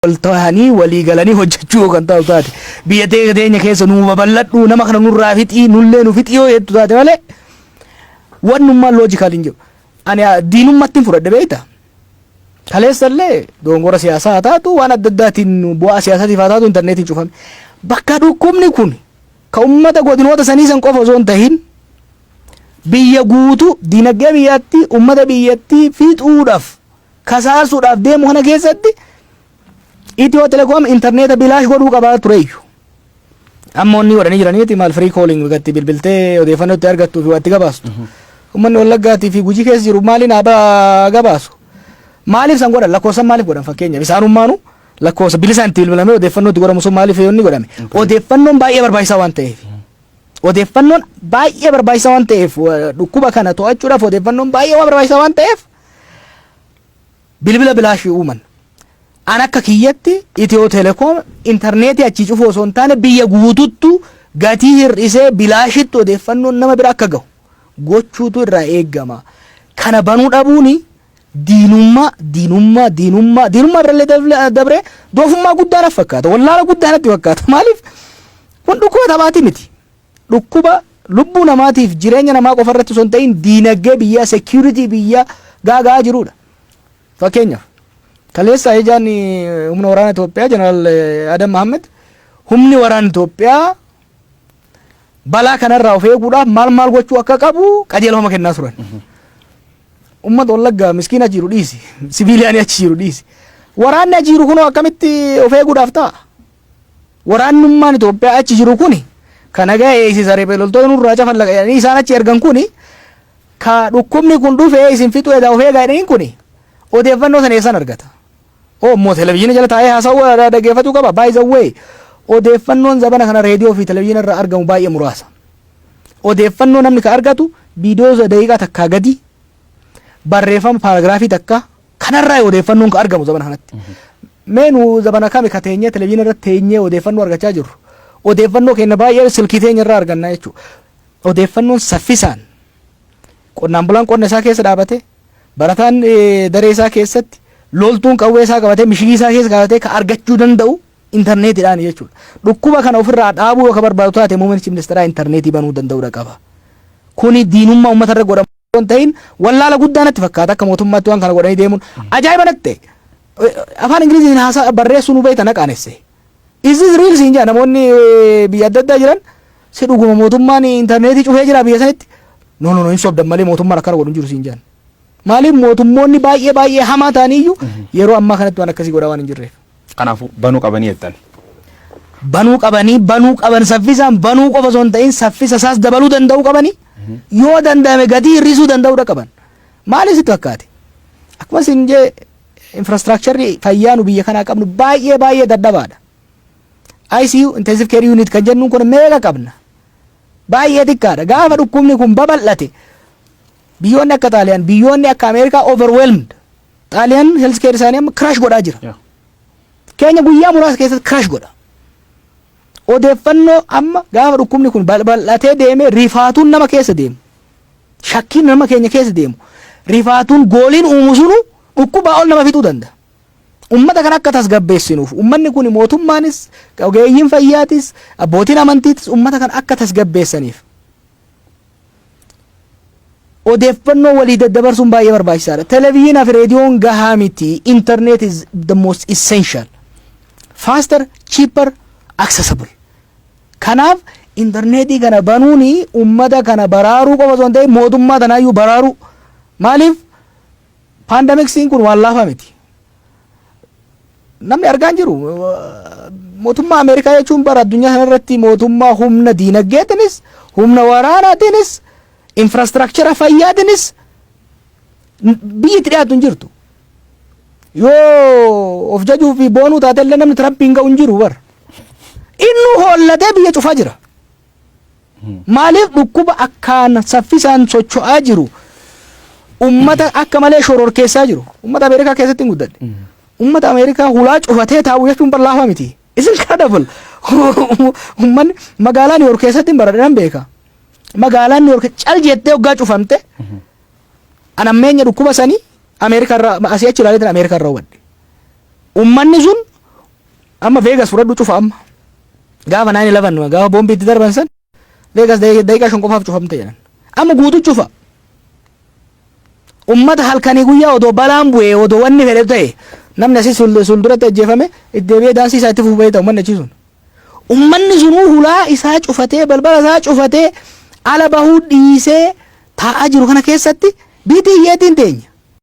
wal tahanii walii galanii hojjechuu yoo kan taatu taate biyya tee- teenya keessa nuu babal'adhu nama kana nurraa fixii nullee nu fixii yoo jettu taate malee wannummaa loojikaal hin jiru. Ani ah, diinummatti hin fudhadhe beekta. Kaleessallee doongora siyaasaa haa taatu waan adda addaatiin bu'aa siyaasatiif haa taatu intarneetiin cufame. Bakka dhukkubni kun ka uummata godinoota sanii san qofa osoo hin tahin biyya guutuu dinagdee biyyattii uummata biyyattii fixuudhaaf kasaasuudhaaf deemu kana keessatti Itiyoo Telekoom intarneeta bilaash godhuu qabaa tureeyyu. Amma wanni godhanii jiraniiti maal firii kooliing gatti bilbiltee odeeffannoo itti argattuu fi waatti gabaastu. Uummanni Wallaggaatii fi Gujii keessa jiru maaliin haa gabaasu? Maaliif san godhan lakkoofsan maaliif godhan fakkeenyaaf isaanummaanuu lakkoofsa bilisaan itti bilbilamee odeeffannoo itti godhamu sun maaliif yoonni godhame? Odeeffannoon baay'ee barbaachisaa waan ta'eef. Odeeffannoon baay'ee barbaachisaa waan ta'eef dhukkuba kana to'achuudhaaf odeeffannoon baay'ee waan barbaachisaa waan ta'eef bilbila bilaashii uuman. An akka kiyyatti Itiyoo Telekoom intarneetii achii cufuu osoo hin taane biyya guututtu gatii hir'isee bilaashitti odeeffannoon nama bira akka gahu gochuutu irraa eegama. Kana banuu dhabuun diinummaa diinummaa diinummaa diinummaa birallee dabree doofummaa guddaa naf fakkaata. Wallaala guddaa natti fakkaata. Maaliif kun dhukkuba taphaati miti. Dhukkuba lubbuu namaatiif jireenya namaa qofa irratti osoo hin ta'iin diinagdee biyyaa, security biyyaa gaaga'aa jiruudha. Fakkeenyaaf kaleessa ajajaan humna waraana Itoophiyaa Jeneraal Adam Mahammed humni waraana Itoophiyaa balaa kanarraa of eeguudhaaf maal maal gochuu akka qabu qajeelfama kennaa turan. Uummata Wallaggaa miskiin achi jiru dhiisi. Siviiliyaanii achi jiru dhiisi. Waraanni achi jiru kunoo akkamitti of eeguudhaaf ta'a? Waraannummaan Itoophiyaa achi jiru kuni ka nagaa eeysisa riphee loltoota nurraa cafallaqa jedhanii isaan achi ergan kuni ka dhukkubni kun dhufee isin fixuu edaa of eegaa jedhaniin kuni odeeffannoo san eessan argata? Omn televizhiina jala taa'ee haasawuu dhaggeeffatuu qaba? By the way odeeffannoon zabana kana reediyoo fi televizhiina irraa argamu baay'ee muraasa. Odeeffannoo namni ka argatu viidiyoo daqiiqaa takkaa gadii, barreeffama paaragiraafii takkaa, Kanarraa odeeffannoon kan argamu zabana kanatti. Mee nu zabana kami ka teenyee televizyiina irratti teenyee odeeffannoo argachaa jirru. Odeeffannoo keenya baay'ee silkii teenya irraa argannaa jechuudha. Odeeffannoon saffisaan qonnaan bulaan qonna isaa keessa dhaabatee barataan eh, daree isaa keessatti loltuun qawwee isaa qabatee mishigii isaa keessa qabatee ka argachuu danda'u intarneetiidhaan jechuudha. Dhukkuba kana ofirraa dhaabuu yoo ka barbaadu taate muummichi ministeeraa intarneetii banuu danda'uudha qaba. Kuni diinummaa uummata irra godhamu. osoo hin ta'in wallaala guddaa natti fakkaata akka mootummaatti waan kana godhanii deemuun ajaa'iba natti ta'e. Eh, Afaan Ingiliziin haasaa barreessuu nu beekta na qaanesse. Is this real siin jedha namoonni eh, biyya adda addaa jiran si dhuguma mootummaan intarneetii cufee jira biyya sanitti. No no no hin sobdan malee mootummaan akkana godhu hin jiru siin jedhan. Maaliif mootummoonni baay'ee baay'ee hamaa ta'aniyyuu yeroo ammaa kanatti waan akkasii godhaa waan hin jirreef. Kanaafu banu qabanii jettani. Banuu qabanii, banuu qaban saffisaan banuu qofa osoo hin ta'in saffisa isaas dabaluu danda'uu qabani. Yoo danda'ame gatii hir'isuu danda'uudha qaban. Maaliif sitti fakkaate? Akkuma isin jee infrastructure fayyaa nu biyya kanaa qabnu baay'ee baay'ee dadhabaadha. ICU intensive care unit kan jennuun kun meeqa qabna? Baay'ee xiqqaadha. Gaafa dhukkubni kun babal'ate biyyoonni akka Xaaliyaan, biyyoonni akka Ameerikaa overwhelmed Xaaliyaan health care isaanii amma kiraash godhaa jira. Yeah. Keenya guyyaa muraasa keessatti kiraash godha. Odeeffannoo amma gaafa dhukkubni kun bal- bal'atee deemee rifaatuun nama keessa deemu. Shakkiin nama keenya keessa deemu. Rifaatuun gooliin uumu sunu dhukkubaa ol nama fixuu danda'a. Uummata kana akka tasgabbeessinuuf uummanni kun mootummaanis ogeeyyiin fayyaatis abbootiin amantiitis uummata kana akka tasgabbeessaniif Odeeffannoo walii daddabarsuun baay'ee barbaachisaa dha. Televizyinaa fi reediyoon gahaa miti. Internet is the most essential. Faster, cheaper, accessible. Kanaaf interneetii kana banuun ummata kana baraaruu qofa osoo hin ta'in mootummaa tanaayyuu baraaruu. Maaliif Paandamiksiin kun waan laafaa miti. Namni argaa hin jiru. Mootummaa Ameerikaa jechuun bara addunyaa kanarratti mootummaa humna diinagdeetinis, humna waraanaatiinis, infraastiraakchara fayyaatiinis biyyi itti dhiyaatu hin jirtu. Yoo of jajuu fi boonuu taate illee namni Tiraampiin ga'u hin jiru bara. Innuu hoollatee biyya cufaa jira. Maaliif dhukkuba akkaan saffisaan socho'aa jiru ummata akka malee shororkeessaa jiru. Ummata Ameerikaa keessatti hin guddadhe. Ummata Ameerikaa hulaa cufatee taa'u jechuun bar laafaa miti. It's incredible. Ummanni magaalaa Niiwuork keessatti hin baradhe nan beeka. Magaalaan Niiwuork cal jettee hoggaa cufamte an ammeenya dhukkuba sanii Ameerikaa irraa asii achi ilaaleetiin Ameerikaa irraa hubadhe. Ummanni sun Amma Vegas fudhadhu cufa amma. Gaafa 9/11 gaafa boombii itti darban san Vegas daqiiqaa shan qofaaf cufamte jedhan. Amma guutu cufa. Ummata halkanii guyyaa odoo balaan bu'ee odoo wanni fedhe ta'e namni asii sulduratti ajjeefame itti deebi'ee daansii isaa itti fufu beekta ummanni achii sun. Ummanni sunuu hulaa isaa cufatee balbala isaa cufatee ala bahuu dhiisee taa'aa jiru kana keessatti biitii hiyyeetiin teenya.